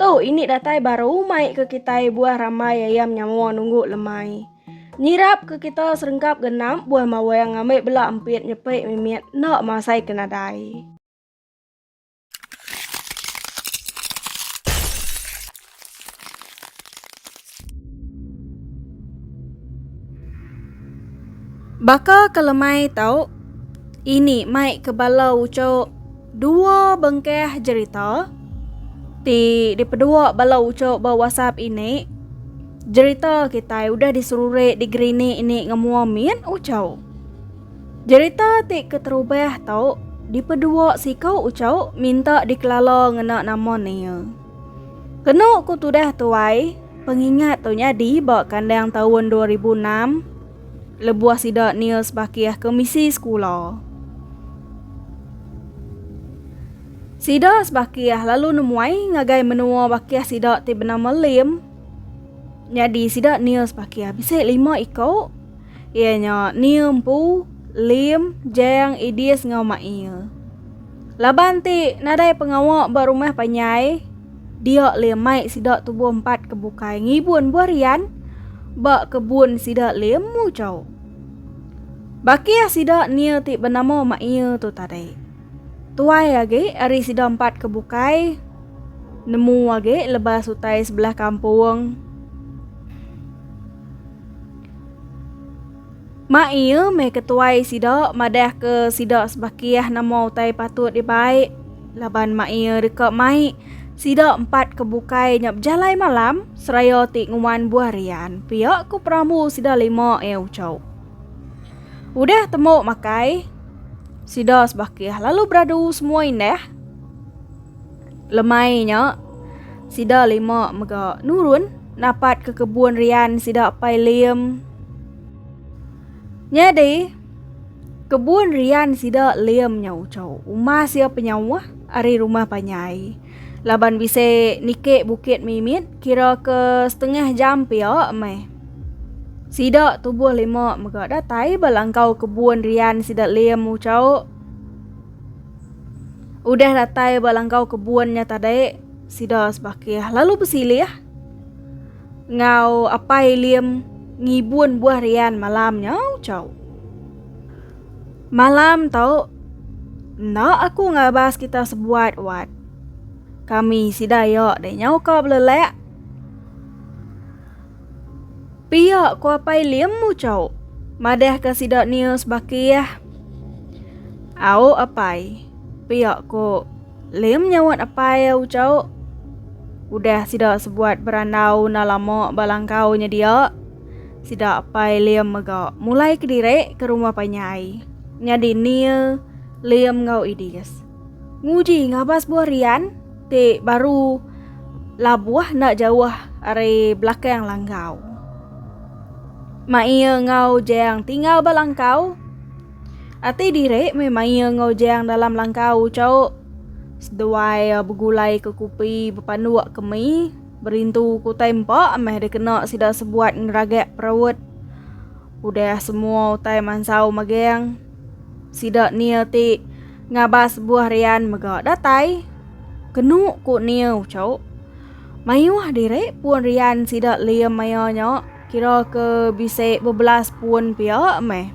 Tu ini datai baru mai ke kitai buah rambai ayam nyawa nunggu lemai. Nyirap ke kita serengkap genap buah mawang ngambil bela empit nyepik mimit enda masai ke nadai. Baka ke lemai tau, ini mai ke bala uchu dua bengkah jerita ti dipedua bala uchu ba WhatsApp ini. Jerita kitai udah diseruri di Grini ini ngemua mit uchu. Jerita ti keterubah tau dipedua siku uchu minta dikelala ngena nama Neil. Kenu ku tudah tuai, pengingat tu nyadi ba kandang taun dua ribu enam lebuh sida Nils Bakih ke misi sekula. Sida sebakih lalu nemuai ngagai menua bakih sida ti benama Lim. Nyadi sida Nils Bakih bisi lima iku iya nya Nil empu, Lim, Jang, Idis enggau Mail. Laban ti nadai pengawa ba rumah panjai, dia leh mai sida tubuh empat ke bukai ngibun buah rian ba kebun sida leh muchau. Bakih sida nia ti benama Mak Ia tu tadi. Tuai agi ari sida empat ke bukai nemu agi lebas utai sebelah kampung. Mak iya meh ke tuai sida madahka sida sebakih nama utai patut dibai laban mak iya deka mai sida empat ke bukai nya bejalai malam seraya ti nguan buah rian pia ku perambu sida lima iya ucau. Udah temu makai sida sebakih lalu beradu semua indah. Lemai nya, sida lima mega nurun napat ke kebun rian sida Pai Lim. Nyadi, kebun rian sida Lim nya ucau umas iya penyauh ari rumah panyai. Laban bisi niki bukit mimit kira ke setengah jam pia meh. Sida tubuh lima mega datai ba langkau kebun rian sida Lim ucau. Udah datai ba langkau kebun nya tadi, sida sebakih lalu besilih ngau Apai Lim ngibun buah rian malam nya ucau. Malam tau enda aku ngabas kita sebuat wat. Kami sida iya deh nyau ka belelak. Pia ku Apai Lim muchau. Madahka sida news bakih. Au Apai. Pia ku Lim nyawat Apai ucau. Udah sida sebuat berandau enda lama ba langkau nya dia. Sida Apai Lim mega mulai kediri ke rumah panyai. Nyadi Neil, Lim enggau Edis. Nguji ngabas buah rian ti baru labuh enda jauh ari belakang langkau. Maia ngau jang tinggal ba langkau. Ati diri meh maia ngau jang dalam langkau ucau seduai begulai ke kupi bepanduk ke mi berintu ke utai empa meh dikena sida sebuat ngeragak perut. Udah semua utai mansau magang. Sida Neil ti ngabas buah rian mega datai. Kenu ku Neil cu. Mayuh diri pun rian sida Liam maya nya kira ke bisi bebelas pun pia meh.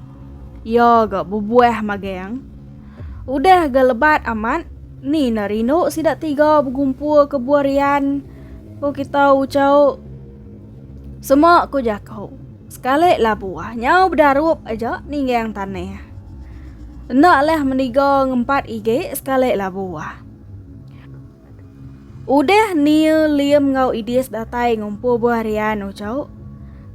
Iya ga bebuah magang. Udah ga lebat amat ni enda rindu sida tiga begumpul ke buah rian ku kita ucau. Sema ku jaku. Sekali labu, nyau bedarup aja ninggang tanah. Enda lah meniga ngempat igi sekali labu. Udah Nia, Liam enggau Idis datai ngumpul buah rian ucau.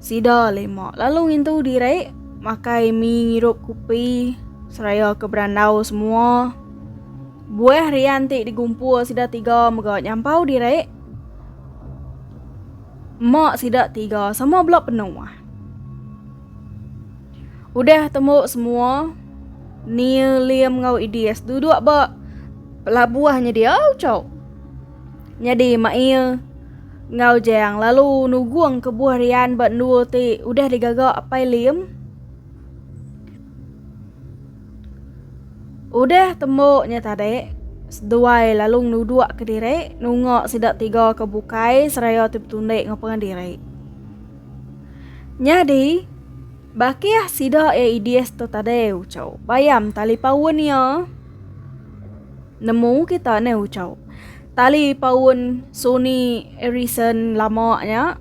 Sida lima lalu ngintu diri makai mi ngirup kupi seraya ke berandau semua. Buah rian ti digumpul sida tiga mega nyampau diri. Mak sida tiga sama bela penuh. Udah temu semua, Neil, Liam enggau Idis duduk ba pelabuh nyedia ucau. Nyadi Mak Ia enggau Jang lalu nugung kebuah rian ba endur ti udah digaga Apai Liam. Udah tembu nya tadi, seduai lalu ngenudukka diri nunga sida tiga ke bukai seraya ti betundi enggau pengan diri. Nyadi, bakih sida iya Idis tu tadi uchu. Bayam tali paun iya nemu kita nih uchu. Tali paun Sony Ericsson lama nya.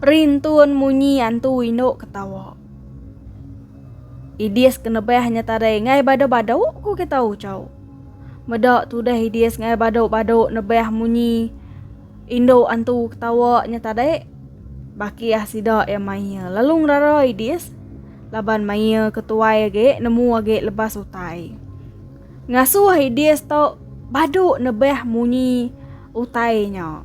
Rintun munyi antu indu ketawa. Idis ke nebah nya tadi ngai badu-badu ku kita Ucho. Meda tudah Idis ngai badu-badu nebah munyi indu antu ketawa nya tadi. Baki ah sida iya maie lalu ngerara Idis laban maie ke tuai agi nemu agi lebas utai. Ngasuh Idis tu badu nebah munyi utai nya.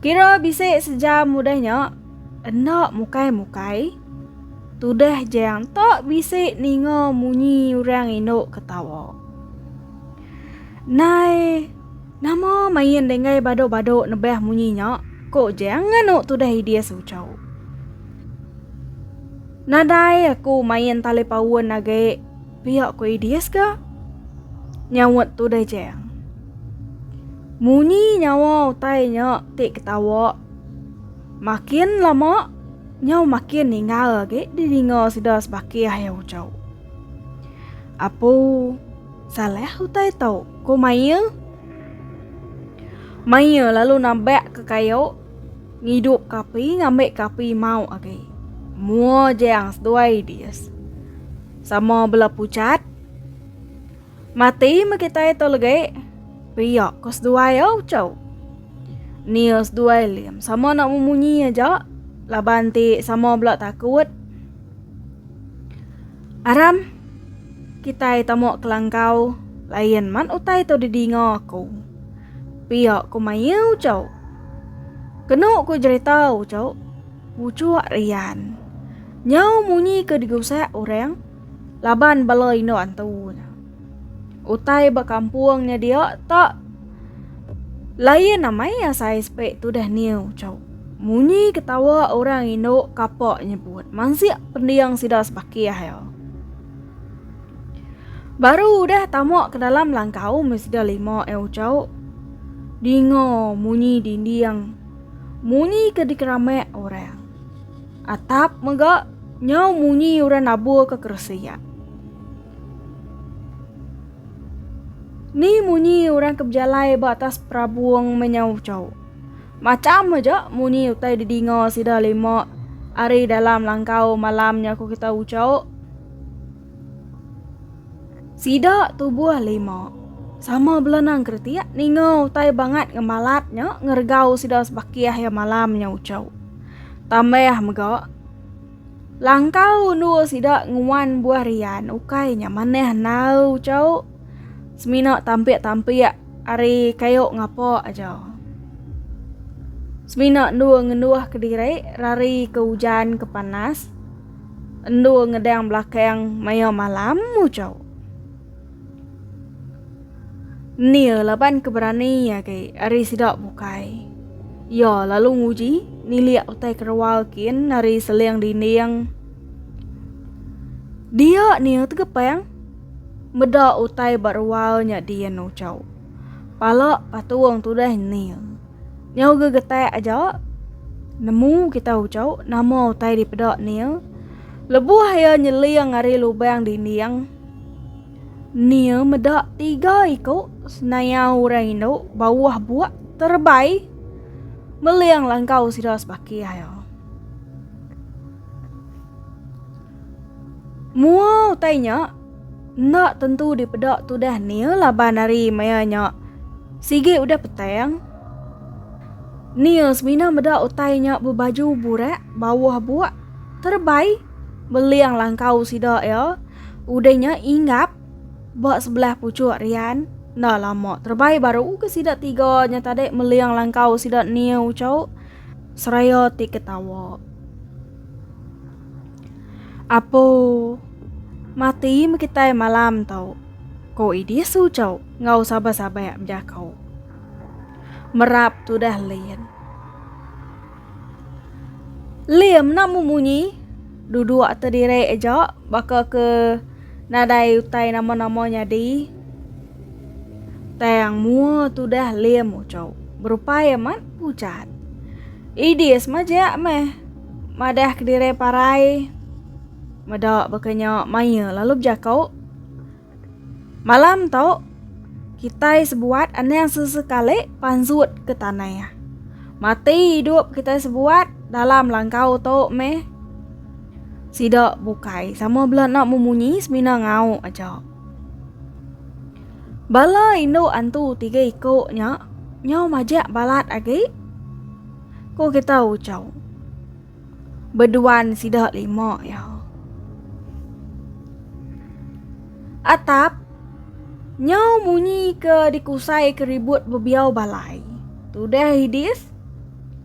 Kira bisi sejam udah nya, enda mukai-mukai, tudah jang ta bisi ninga munyi orang indu ketawa. Nai, nama main denggai badu-badu nebah munyi nya? ko jang nganu tudah Idis ucau. Nadai aku main talipaun agi. Pia ku Idis ga? Nyaut Tudai Jang. Munyi nyawa utai nya ti ketawa. Makin lama, nyau makin ninggal agi di dinga sida sebakih iya ucau. Apu, salah utai tu, ku Maya. Maya lalu nabak ke kayu, ngidup ke api ngambi ke api mau agi. Mua Jang seduai Idis. Sama bela pucat. Mati me kitai to legi. Pia ko seduai au chau. Nia seduai lim sama nak memunyi aja laban ti sama bela takut. Aram kitai tamu kelangkau lain man utai to didinga aku. Pia ko mayau chau. Kenu ko jerita au chau. Puchuk rian. Nyau munyi ke digusak orang laban bala indu antu nya. Utai ba kampung nya dia tak lain amai asai spek tudah niu chau. Munyi ketawa orang indu kapak nyebut mansik pending sida sebakih ya. Baru udah tama ke dalam langkau mesti lima ya uchau. Dinga munyi dinding Munyi ke dikeramak orang. Atap mega nyau munyi orang nabur ke keresi ya. Ni munyi orang ke bejalai ba atas perabung menyau cau. Macam aja munyi utai didinga sida lima ari dalam langkau malam nya ku kita ucau. Sida tubuh lima. Sama bela nang keretik ninga utai bangat ngemalat nya ngeregau sida sebakih iya malam nya uchu. Tambah mega langkau endur sida nguan buah rian ukai nya manah enau uchu semina tampik-tampik ari kayu ngapa aja. Semina endur ngenduh kediri rari ke ujan ke panas. Endur ngedang belakang maya malam mujau. Nil laban keberani agi ari sida bukai. Ia lalu nguji nilik utai kerewal kin ari seling dinding. Dia Nil tegepang meda utai ba rewal nya din ujau. Pala patung tudah Nil. Nyau gegetak aja nemu kita ucau nama utai dipeda Nia. Lebuh iya nyeling ari lubang dinding, Nia meda tiga iku senayau orang indu bawah buak terebai meling langkau sida sebakih iya. Mua utai nya Enda tentu dipeda tudah Neil laban hari maya nya sigi udah petang. Neil semina meda utai nya bebaju burak bawah buak terebai beling langkau sida iya udah nya inggap ba sebelah puchuk rian enda lama terebai baru ke sida tiga nya tadi meling langkau sida Neil ucau seraya ti ketawa. Apo mati me kitai malam tau, ko Idis ucau ngau sabai-sabai ak bejako. Merap tudah Lin. Lim nak mu munyi? Duduk te direk aja baka ke nadai utai nama-nama nyadi. Tang mua tudah Lim ucau. Berupai amat pucat. Idis majak meh. Madah kediri parai meda baka nya maya lalu bejako, Malam tu kitai sebuat anang sesekali pansut ke tanah. Mati idup kitai sebuat dalam langkau tu meh sida bukai sama bela enda memunyi semina ngau aja. Bala indu antu tiga iko nya nyau majak balat agi. Ku kita ucau. Beduan sida lima ya. Atap nyau munyi ke dikusai ke ribut bebiau balai. Tudah hidis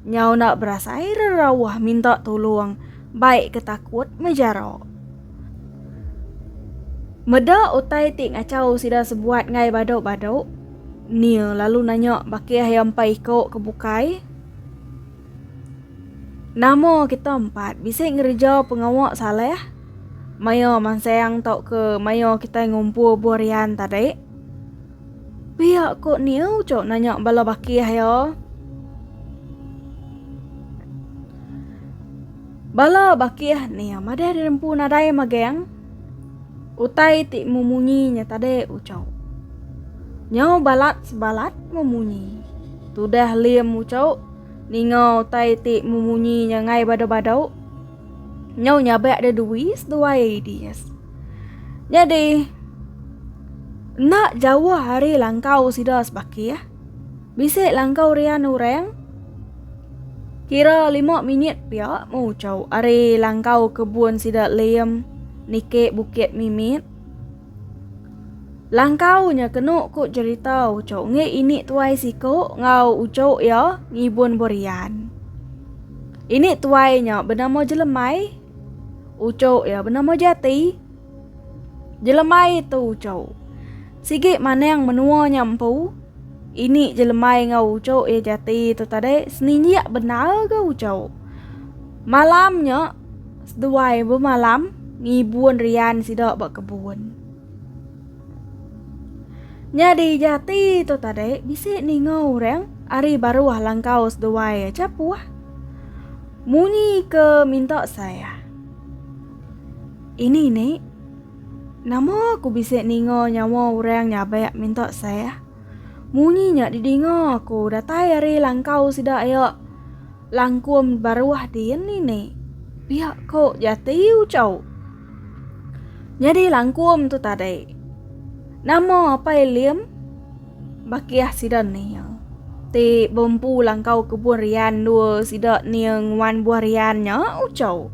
nyau nak berasai rerawah minta tolong baik ke takut mejara. Meda utai ti ngacau sida sebuat ngai badu-badu. Nia lalu nanya baki iya empai iko ke bukai. Nama kita empat bisi ngereja pengawa Saleh maya mansang tauka maya kitai ngumpul buah rian tadi? Pia ko Nia uchu nanya bala baki iya. Bala baki Nia madah dinempu nadai magang. Utai ti memunyi nya tadi ucau. Nyau balat sebalat memunyi. Tudah Lim ucau ninga utai ti memunyi nya ngai badau-badau. Nyau nyabak dia dui seduai ideas. Nyadi enda jauh ari langkau sida sebakih. Bisi langkau rian orang kira lima minit pia meuchau ari langkau kebun sida Liam niki Bukit Mimit. Langkau nya kenu ku jerita uchu ngi ini tuai siku enggau uchu iya ngibun berian. Ini tuai nya benama Jelemai. Uchu iya benama Jati. Jelemai tu uchu. Sigi manang menua nya empu, ini je lemai enggau ucuk iya jati tu tadi, seninjik bendar ga ucuk. Malam nya seduai bemalam ngibun rian sida ba kebun. Nyadi jati tu tadi bisi ninga orang ari baruh langkau seduai aja puah. Munyi ke minta saya. Ini ni. Nama aku bisi ninga nyawa orang nyabak minta sah? Munyi nya didinga aku datai ari langkau sida iya, Langkum baruh din ini. Pia ko jati Uchau. Nyadi langkum tu tadi. Nama Apai Lim? Bakih sida nia. Ti bempu langkau kebun rian dua sida nia nguan buah rian nya Uchau.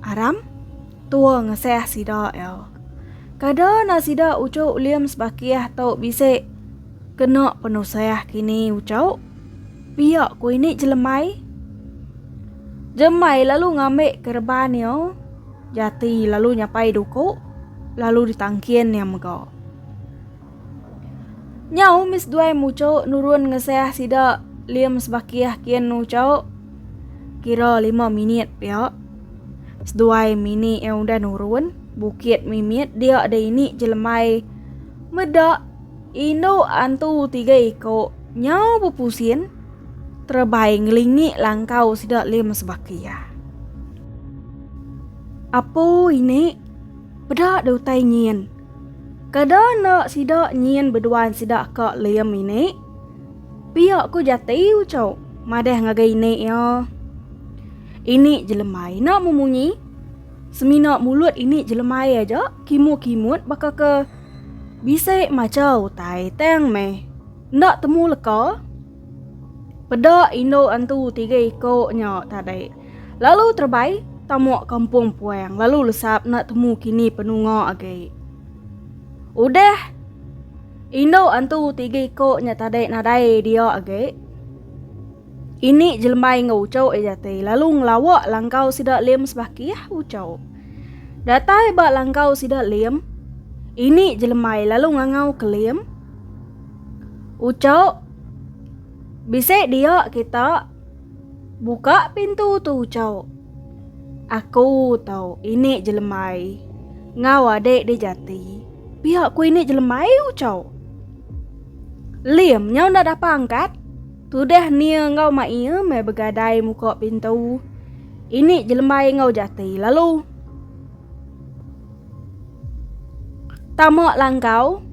Aram, tua ngesah sida iya. Kada na sida ucu ulim sebakih tu bisi kena penusah kini ucu. Pia ku ini jelemai. Jemai lalu ngambi kereban iya. Jati lalu nyapai duku lalu ditangkin iya mega. Nyau mih seduai mucho nurun ngesah sida Lim sebakih kin nucho kira lima minit pia. Seduai mini iya udah nurun bukit mimit dia deh ini jelemai meda indu antu tiga iko nyau bepusin terebai ngelingi langkau sida Lim sebakih. Apo ini peda deh utai nyin. Kada enda sida nyin beduan sida ka lem ini. Pia ku Jati uco madah ngagai ini iya. Ini jelembai enda memunyi. Semina mulut ini jelembai aja kimu kimut baka ke bisi macha utai tang meh enda temu leka. Peda indu antu tiga iko nya tadi lalu terebai tamuk kampung puang lalu lesap enda temu kini penunga agi. Udah indu antu tiga iko nya tadi nadai dia agi, ini jelembai enggau uchu iya jati lalu ngelawa langkau sida Lim sebakih uchu. Datai ba langkau sida Lim, ini jelembai lalu ngangau ke Lim. Ucok, Bisi dia kita. Buka pintu tu Ucok. Aku tau ini jelemai. Ngau adik di jati. Pia ku ini jelemai Ucok. Lim nyau nda dapa angkat. Tudah Nia ngau mak ia mai begadai muka pintu. Ini jelemai ngau jati lalu. Tama langgau.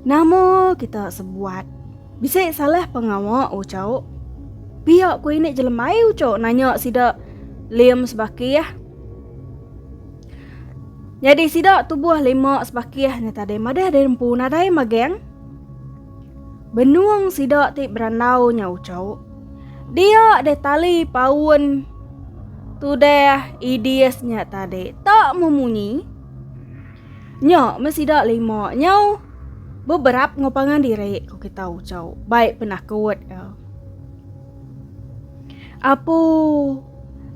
Nama kita sebuat. Bisi salah pengawa ucau. Pia ku ini jelembai ucau nanya sida lim sebakih. Jadi sida tubuh lima sebakih ni tadi madah di empu nadai magang. Benung sida ti berandau nya ucau. Dia deh tali paun tu deh idis nya tadi. Tak memunyi. Nya me sida lima nyau beberap ngau pangan diri ku kita ucau. Baik penakut. Ya. Apu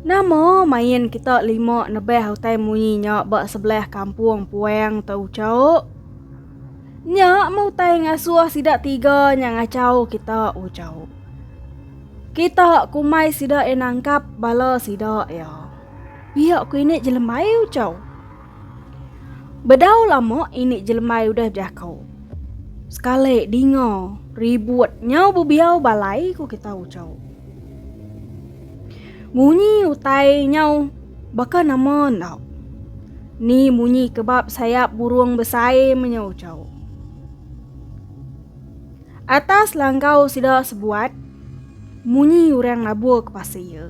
nama main kita lima nebeh utai munyi nya ba sebelah kampung puang tu ucau. Nya meh utai ngasuh sida tiga nya ngachau kita ujau. Kita kumai sida iya nangkap bala sida iya. Pia ku ini jelembai ujau. Bedau lama ini jelembai udah bejako. Sekali dinga ribut nyau bebiau balai ku kita ujau. Munyi utai nyau Baka nama enda? Ni munyi kebab sayap burung besai menyaucau. Atas langgau sida sebuat, munyi orang nabur ke pasir iya.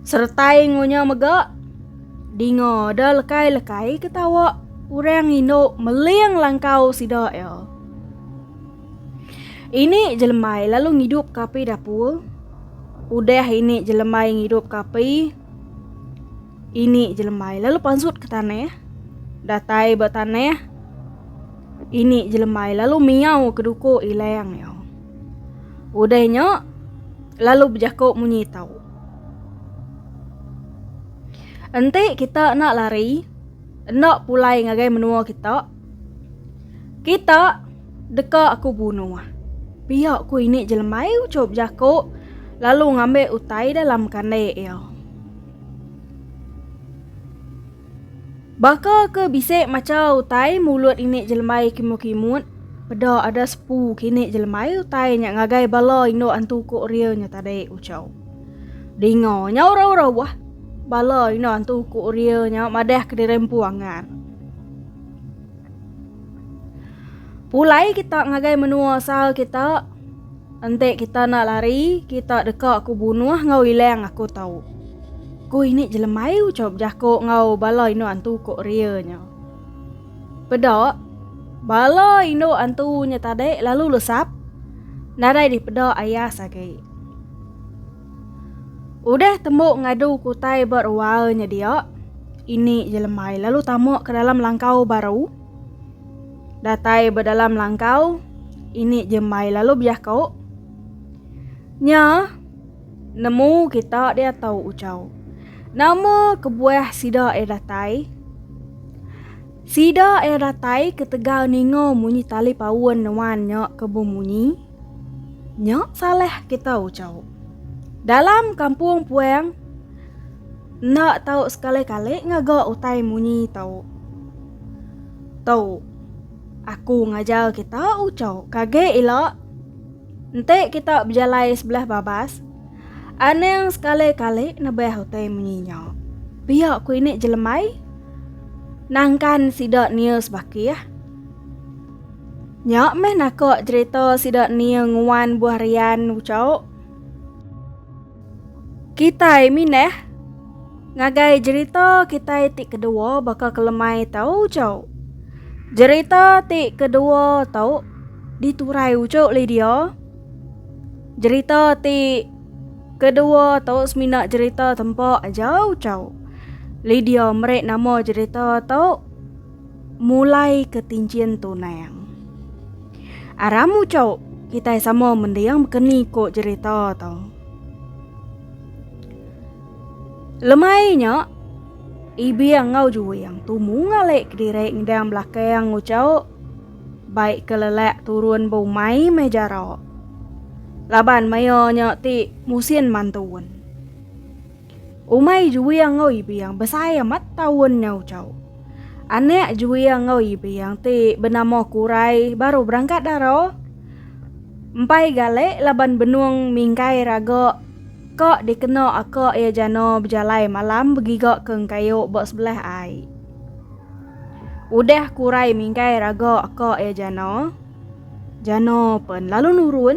Seretai ngonya mega, dinga ada lekai-lekai ketawa orang indu meling langkau sida iya. Ini jelemai lalu ngidup ka api dapur. Udah ini jelemai ngidup ka api. Ini jelemai lalu pansut ke tanah. Datai ba tanah. Ini jelemai lalu miau ke duko ilang iya. Udah nya lalu bejako munyi tau. Enti kita enda lari, enda pulai ngagai menua kita. Kita deka aku bunuh. Pia ku ini jelembai ucup jaku lalu ngambil utai dalam kandai iya. Baka ke bisi macha utai mulut ini jelembai kimut-kimut, peda ada sepu kini jelembai utai nya ngagai bala indu antu ku Uria nya tadi ucau. Dinga nya urau-urau bah. Bala indu antu ku Uria nya madah kediri empu angan. Pulai kita ngagai menua asal kita, enti kita enda lari, kita deka ku bunuh enggau ilang aku tau. Ku ini jelemai ucau bejako enggau bala indu antu ko Ria nya. Peda, bala indu antu nya tadi lalu lesap nadai dipeda ayas agi. Udah tembu ngadu ke utai ba rual nya dia, ini je lembai lalu tamak ke dalam langkau baru. Datai ba dalam langkau, ini je embai lalu biako. Nya nemu kita diatu ucau. Nama kebuah sida iya datai? Sida iya datai ketegal ninga munyi tali paun nuan nya ke bemunyi. Nya salah kita ucau. Dalam kampung puang enda tau sekali-kali ngaga utai munyi tau. Tu aku ngajar kita ucau kage ila enti kita bejalai sebelah babas anang sekali-kali nebah utai munyi nya. Pia ku ini jelemai nangkan sida nius bakih. Nya meh naka jerita sida nia nguan buah rian ucau. Kitai minah ngagai jerita kitai ti kedua baka kelemai tau ucau. Jerita ti kedua tu diturai ucau Lydia. Jerita ti kedua tu semina jerita tempa aja ucau. Lydia meri nama jerita tu. Mulai ke tinjin tunang. Aram ucok kitai sama mending bekeni ko cerita tu. Lemai nya Ibing ngau Juing tumu ngalek kediri ngedang belakang ucok baik ke lelak turun ba umai meh jarak. Laban maya nya ti musin mantun. Umai juia enggau Ipiang besai amat taun nya ucau. Anak juia enggau Ipiang ti benama Kurai baru berangkat dara. Empai gale laban benung mingkai raga ka dikena aka iya jana bejalai malam begiga ke engkayu ba sebelah ai. Udah Kurai mingkai raga aka iya jana, jana pen lalu nurun.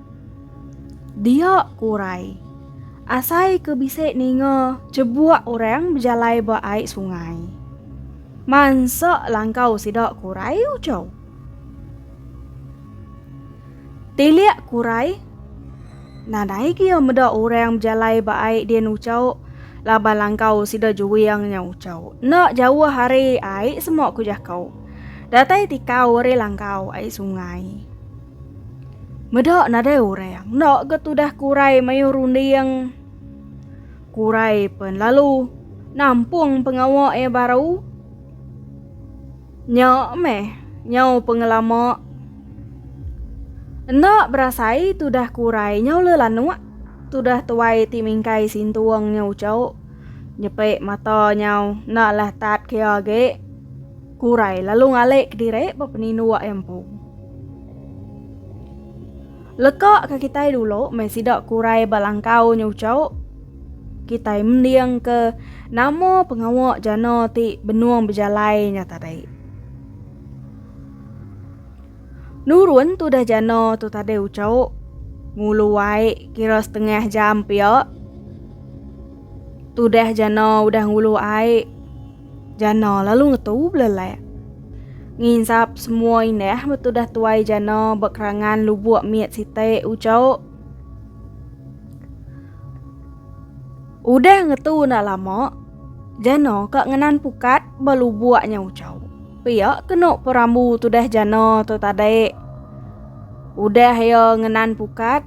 Dia ku urai. Asai ke bisi ninga chebuk orang bejalai ba ai sungai. Mansa langkau sida ku urai ucau. Tilik ku urai. Nadai gia meda orang bejalai ba ai din ucau laban langkau sida juing nya ucau. Enda jauh ari ai semua ku jakau. Datai tikau ari langkau ai sungai. Meda nadai orang enda ke tudah kurai mayuh runding. Kurai pen lalu nampung pengawa iya baru. Nya meh nyau pengelama. Enda berasai tudah kurai nyau le lanuk tudah tuai ti mingkai sintung nyau uchu. Nyepe mata nyau enda lah tat kia agi. Kurai lalu ngalik ke diri ba peninduk empu. Leka ke kitai dulu meh sida kurai ba langkau nyucu, kitai mending ke nama pengawa jana ti benung bejalai nya tadi. Nurun tudah jana tu tadi ucu, ngulu ai kira setengah jam pia. Tudah jana udah ngulu ai. Jana lalu ngetu belelak. Nginsap semua indah betudah tuai jana ba kerangan lubuk mit sitai ucau. Udah ngetu nda lama, jana ka ngenan pukat ba lubuknya ucau. Pia kena perambu tudah jana tu tadi. Udah ia ngenan pukat,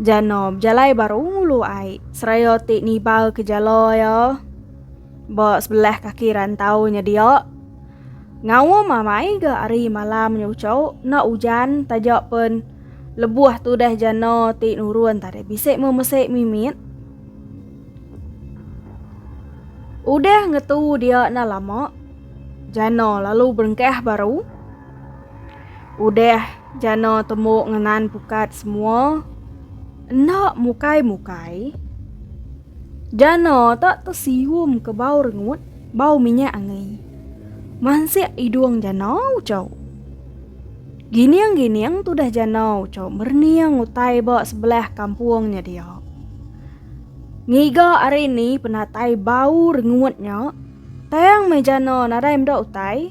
Jano bejalai ba rung ulu ai seraya ti nibal ke jala iya ba sebelah kaki rantau nya dia. Ngaum amai ga hari malam nya ucho enda ujan taja pen lebuh tudah jano ti nurun tadi bisi memesi mimit. Udah ngetu dia enda lama, jano lalu berengkah baru. Udah jana tembu ngenan pukat semua enda mukai-mukai jana tak tesium ke bau rengut bau minyak angi. Mansik idung jana ucau. Gining-gining tudah jana ucau merening utai ba sebelah kampung nya dia. Ngiga ari ni penatai bau rengut nya tang meh jana nadai meda utai.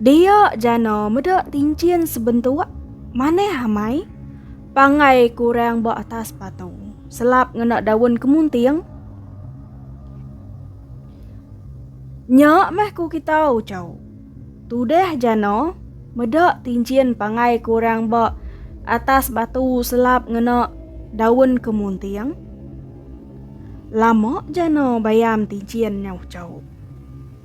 Dia jana meda tinchin sebentuk manah amai pangai kurang ba atas patu selap ngena daun kemunting. Nya meh ku kita ucau. Tudah jana meda tinchin pangai kurang ba atas batu selap ngena daun kemunting. Lama jana bayam tinchin nya ucau.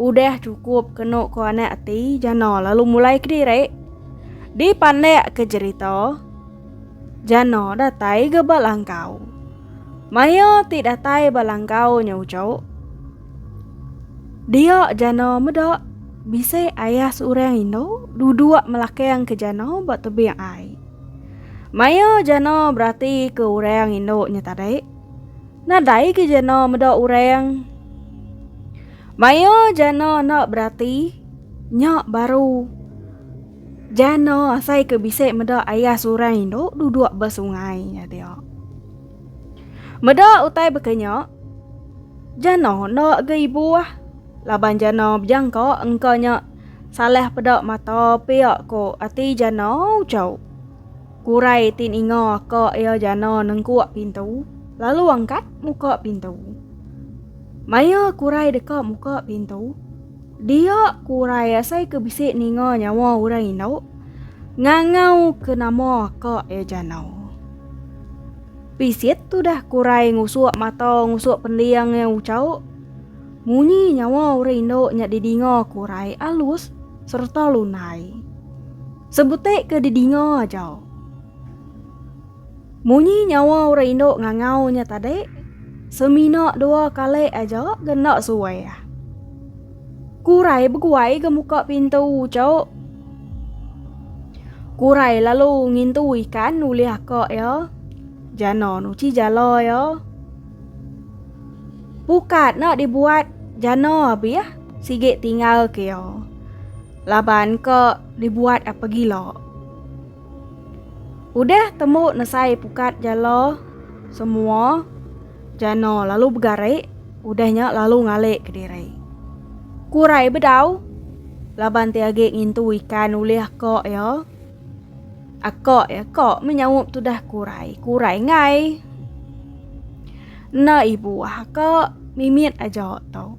Udah cukup kenu ko anak ati Jano lalu mulai kediri. Di pandak ke jerita Jano datai ga ba langkau. Maya ti datai ba langkau nya ucok. Dia Jano meda bisi ayah seorang indu duduk melakang ke Jano ba tebing ai. Maya Jano berati ke orang indu nya tadi. Nadai ke jana meda orang. Maya jana enda berati, nya baru jana asai ke bisi meda ayah seorang indu duduk ba sungai nya dia. Meda utai baka nya, jana enda ga ibuh laban jana bejangka engka nya salah peda mata pia ko ati jana uchu. Kurai ti ninga ka iya jana nengkuk pintu, lalu angkat muka pintu. Maya Kurai deka muka pintu, dia Kurai asai ke bisi ninga nyawa orang indu ngangau ke nama ka iya jana. Pisit tudah Kurai ngusuk mata ngusuk pending iya ucau, munyi nyawa orang indu nya didinga Kurai alus sereta lunai. Sebutik ke didinga aja. Munyi nyawa orang indu ngangau nya tadi, semina dua kali aja ke enda suai. Kurai beguai ke muka pintu cuk. Kurai lalu ngintu ikan ulih aka ya. Jana nuci jala ya. Pukat nak dibuat jana abih sigi tinggal ke ya. Laban ke dibuat apa gila. Udah temu nesai pukat jala semua jana lalu begari udahnya lalu ngalik ke diri. Kurai bedau laban ti agi ngintu ikan ulih akak ya. Akak ya kak menyaup tudah kurai. Kurai ngai. Enda ibu akak mimit aja tau.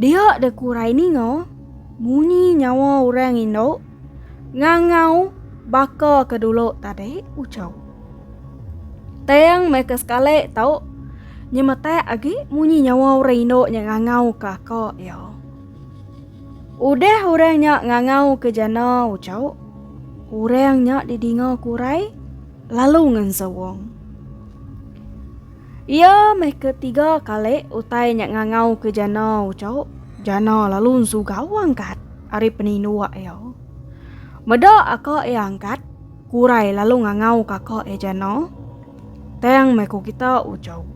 Dia de kurai ninga munyi nyawa orang indu ngangau baka ke dulu tadi ucau. Tang meh ke sekali tu nyemetak agi munyi nyawa orang indu nya ngangau ke aka iya. Udah orang nya ngangau ke jana ucau, orang nya didinga kurai lalu ngensuong. Iya meh ke tiga kali utai nya ngangau ke jana ucau. Jana lalu nsugau angkat ari peninduk iya. Meda aka iya angkat, Kurai lalu ngangau kaka iya jana. Tang meh ku kita ucau.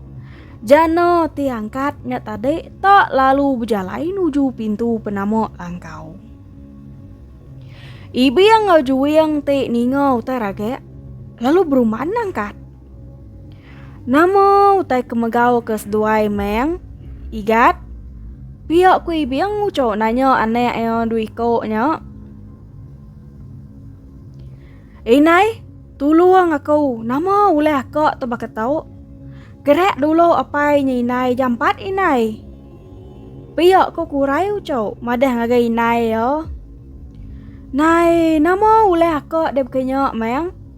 Jana ti angkat nya tadi tak lalu bejalai nuju pintu penama langkau. Ibing enggau Juing ti ninga utai ragak lalu berumban angkat. Nama utai ke megau ke seduai meng igat? Pia ku ibing uco nanya anak ia dua iko nya. Inai, tulung aku, nama ulih aka tu baka tu? Gerak dulu apai nya inai jampat inai. Pia ku kurai uco madah ngagai inai ia. Nai, nama ulih aka debka nya meng?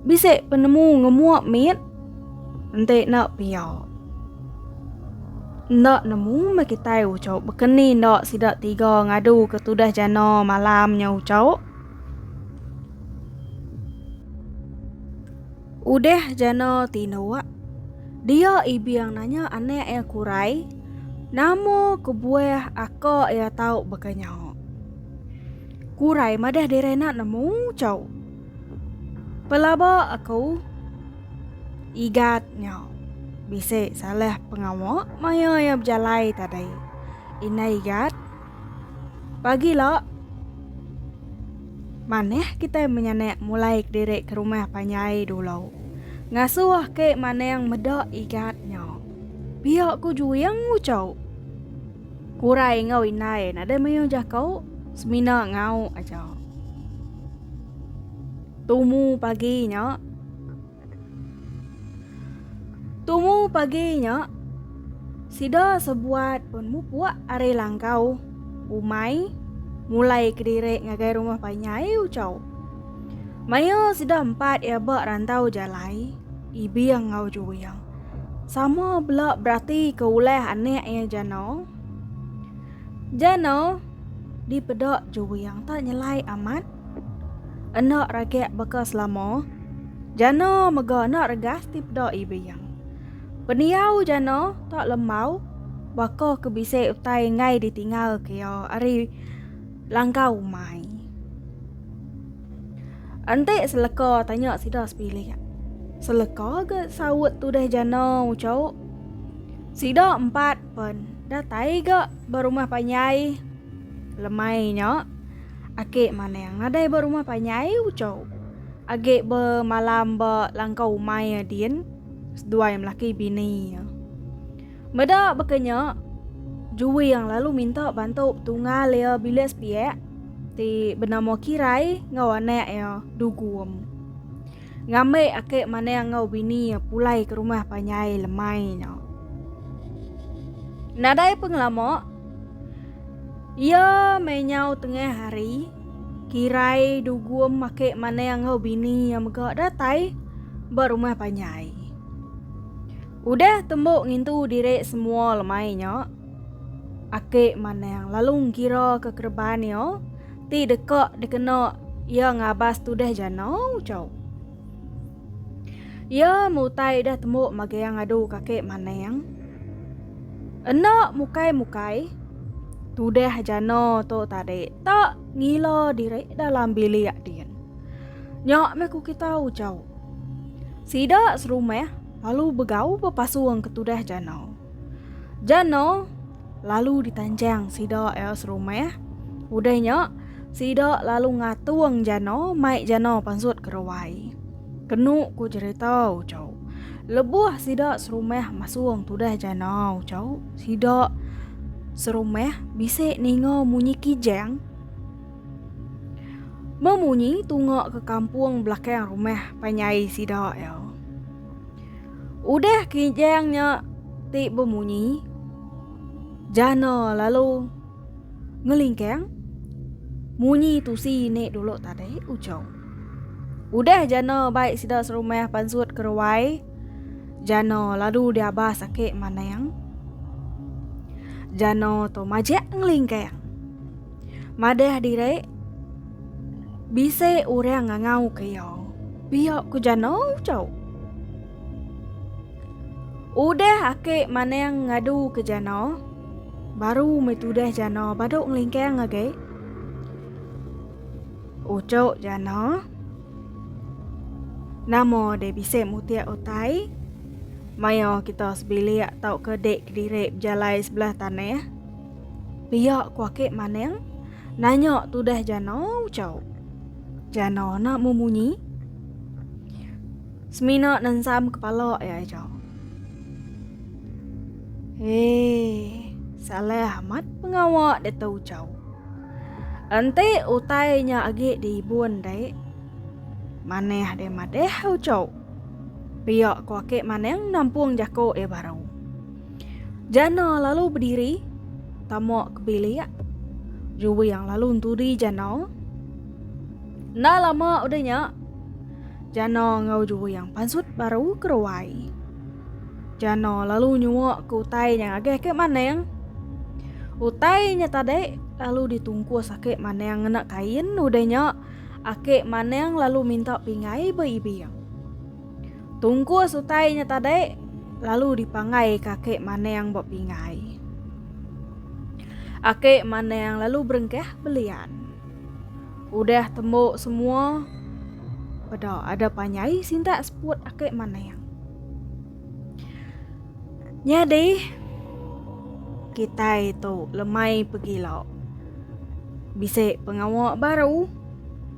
Bisi penemu ngemua mit. Enti enda pia. Enda nemu meh kitai ucau bekeni enda sida tiga ngadu ke tudah jana malam nya ucau. Udah jana tinduk. Dia ibing nanya anak iya kurai nama kebuah aka iya tau baka nya. Kurai madah diri enda nemu ucau. Pelaba aku Igat nya bisi salah pengawa maya iya bejalai tadi. Indai Igat, pagila manah kitai menyanak mulai kediri ke rumah panjai dulu. Ngasuh ke manang meda Igat nya. Pia ku juing ucau. Kurai enggau indai nadai mayuh jaku, semina ngau aja. Tumu pagi nya Tumu pagi nya sida sebuat pun mupuk ari langkau umai mulai kediri ngagai rumah panyai ucau. Mayuh sida empat iya ba rantau jalai, Ibing enggau Juing. Sama bela berati ke ulah anak iya jano. Jano dipeda juwing tak nyelai amat. Enda ragak baka selama. Jano mega enda regas dipeda ibing. Pendiau jano tak lembau baka ke bisi utai enggai ditinggal ke iya ari langkau umai. Enti seleka tanya sida sepilih. Seleka ke saut tudah jana ucau. Sida empat pen datai ga berumah panyai. Lemai nya ake manang nadai berumah panyai ucau. Age bemalam ba langkau umai Adin seduai melaki bini iya. Meda baka nya, Jui yang lalu minta bantu tungal iya bilik sepiak ti benama Kirai enggau anak iya Dugum. Ngambi akik manang enggau bini iya pulai ke rumah panjai lemai nya. Nadai pengelama, iya mai nyau tengah hari, Kirai Dugum akik manang enggau bini iya mega datai ba rumah panjai. Udah tembu ngintu diri semua lemai nya, Aki Manang lalu ngira ke kereban iya ti deka dikena iya ngabas tudah jana ucau. Iya mutai udah tembu magang ngadu ke Aki Manang. Enda mukai-mukai, tudah jana tu tadi tak ngila diri dalam bilik din. Nya meh ku kita ucau. Sida serumah Lalu begau bepasung ke tudah jana. Jana lalu ditanjang sida iya serumah. Udah nya, sida lalu ngatung jana mai jana pansut ke ruai. Kenu ku cherita Uchau, lebuh sida serumah masung tudah jana Uchau, sida serumah bisi ninga munyi kijang. Memunyi tunga ke kampung belakang rumah panyai sida ya. Udah kijang nya ti bemunyi jana lalu ngelingkang munyi tusi ni dulu tadi ujung. Udah jana baik sida serumah pansut keruai jana lalu diabah sakit manang. Jana tu majak ngelingkang. Madah diri bisi orang ngangau ke iya. Pia ku jano chau. Udah ake manang ngadu ke jano, baru meh tudah jano badu ngelingkang agi. Uchu jano nama deh bisi mutik utai maioh kita sebilik tauka dik kediri bejalai sebelah tanah. Pia ku Akik Maneng nanya tudah Jana Uchau. Jana na memunyi. Semina nensam kepala iya aja. Hei, salah amat pengawa Dato Uchau. Enti utai nya agi diibun dai. Maneh deh madeh Uchau. Pia ku Akik Maneng nampung jaku iya baru. Jana lalu bediri tama ke bilik. Juwi yang lalu entudi Jana. Enda lama udah nya, Jana enggau Juwi yang pansut baru ke ruai. Jana lalu nyua ke utai nya ngagih ke maning. Utai nya tadi lalu ditungkus ake maning ngena kain udah nya ake maning lalu minta pingai ba ibing. Tungkus utai nya tadi lalu dipanggai ke Aki Manang ba pingai. Aki Manang lalu berengkah belian. Udah tembu semua pada ada panjai sintak seput Aki Manang. Nyadi kitai tu lemai pegila. Bisi pengawa baru.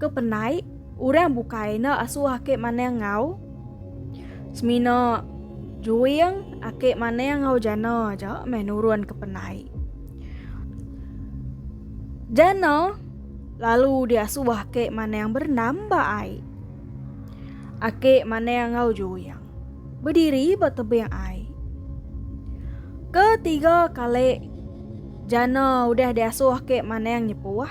Ke penai orang bukai enda asuh ake manang enggau semina juing ake manang enggau jana aja meh nurun ke penai. Jana lalu diasuh ake manang bernambah ai. Ake manang enggau juing berdiri ba tebing ai. Ketiga kali jana udah diasuh ake manang nyepuh.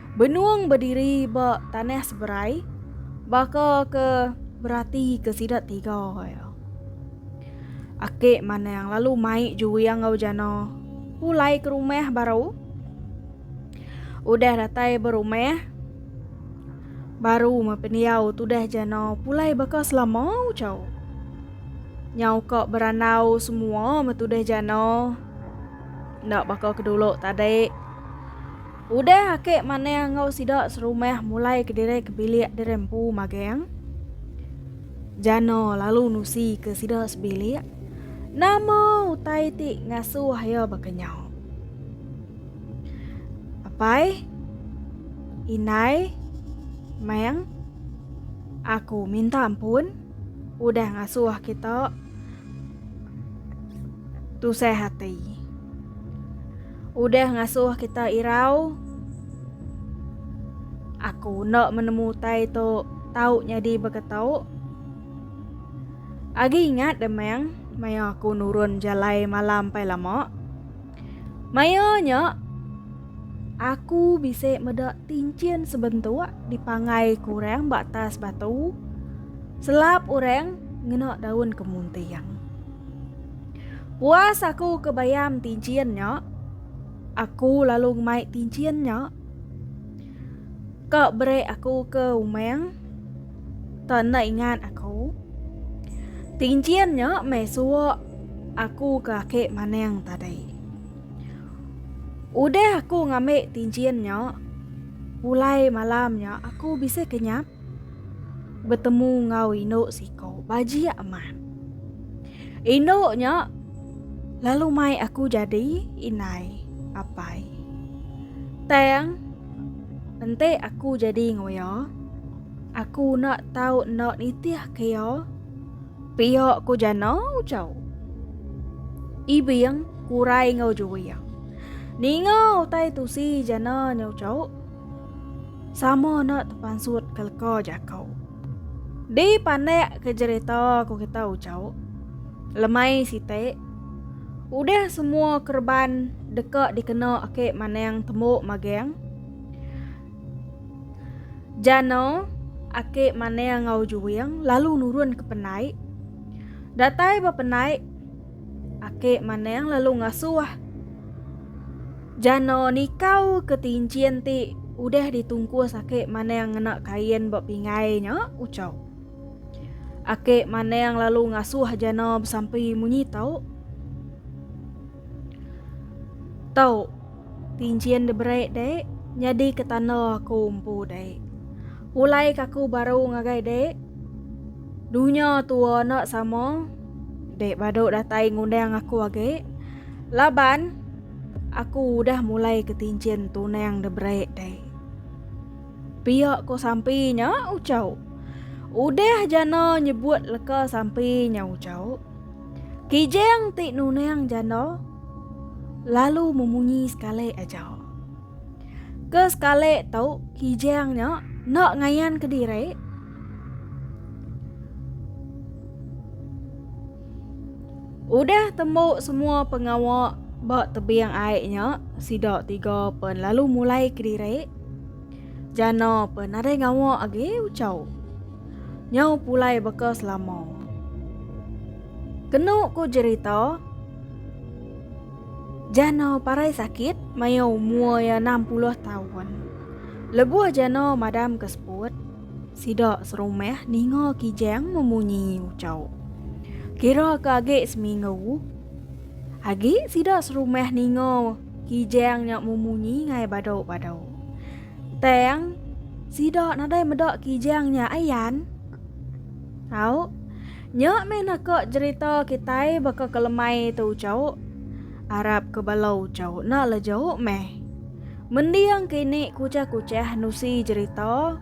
Benung bediri ba tanah seberai baka ke berati ke sida tiga ya. Aki Manang lalu mai juing enggau Jana pulai ke rumah baru. Udah datai berumah baru mependiau tudah Jana pulai baka selama ucau. Nyau ka berandau semua metudah Jana. Ndak baka kedulu tadi. Udah ake manah enggau sida serumah mulai kediri ke bilik diri empu magang. Jana lalu nusi ke sida sebilik. Nama utai ti ngasuh iya baka nyau? Apai, Indai, Mang, aku minta ampun udah ngasuh kita tusah ati. Udah ngasuh kita irau. Aku enda menemu utai tu tau nyadi beketau. Agi ingat demang maya aku nurun jalai malam pai lama. Maya nya aku bisi meda tinchin sebentuk dipangai ku orang ba atas batu. Selap orang ngena daun kemunting. Puas aku ke bayam tinchin nya. Aku lalu ngemai tinchin nya. Ka beri aku ke umang. Ta enda ingat aku. Tinchin nya meh suwa aku ke ake manang tadi. Udah aku ngambi tinchin nya, pulai malam nya aku bisi kenyap. Betemu enggau indu siko bajik amat. Indu nya lalu mai aku jadi indai apai. Tang enti aku jadi enggau iya, aku enda tau enda nitihka iya pia ko jana ujau. Ibing kurai enggau juwing. Ninga utai tusi jana nya ujau. Sama enda tepansut ke leka jako. Di panak ke jerita ku kita ucau. Lemai sitik. Udah semua kereban deka dikena ake manang tembu magang. Jana ake manang ngau juing lalu nurun ke penai. Datai ba penai. Ake Maneng lalu ngasuh. Jano nikau ke tinchin ti udah ditungkus Ake Maneng ngena kain ba pingai nya ucau. Ake Maneng lalu ngasuh Jano besampi munyi tau. Tau, tinchin diberai dek, nyadi ke tanda aku empu dek. Pulai kaku baru ngagai dek. Dunya tua enda sama. Dek badu datai ngundang aku agi. Laban aku udah mulai ke tinjin tunang de break dek. Pia ko sampi nya ucau. Udah jana nyebut leka sampi nya ucau. Kijang ti nunang jana lalu memunyi sekali aja. Ke sekali tu kijang nya nak ngayan ke diri. Udah tembu semua pengawa ba tebing ai nya, sida tiga pen lalu mulai kediri. Jana pen nadai ngawa agi ucau. Nyau pulai baka selama. Kenu ku jerita, Jana parai sakit maya umur iya enam puluh taun. Lebuh Jana madam ke seput, Sida serumah ninga Kijang memunyi ucau. Kira ke agi seminggu. Agi sida serumah ninga Kijang nya memunyi ngai badu-badu. Tang, sida nadai meda Kijang nya ayan. Au, nya meh naka jerita kitai baka ke lemai tu ucau. Arap ke bala ucau enda leju meh. Mending kini kuchah-kuchah nusi jerita.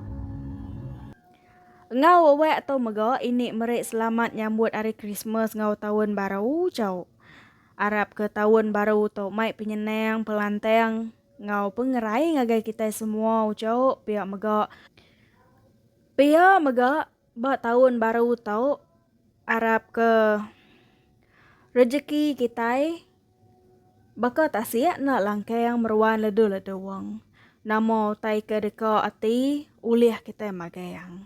Enggau wewak tu mega ini meri selamat nyambut hari Krismas enggau taun baru chau. Arap ke taun baru tu mai penyenang, pelantang enggau pengerai ngagai kitai semua chau pia mega pia mega. Ba taun baru tu, arap ke rejeki kitai baka tasik enda langkang meruan ledu-ledung. Nama utai ke deka ati ulih kitai magang?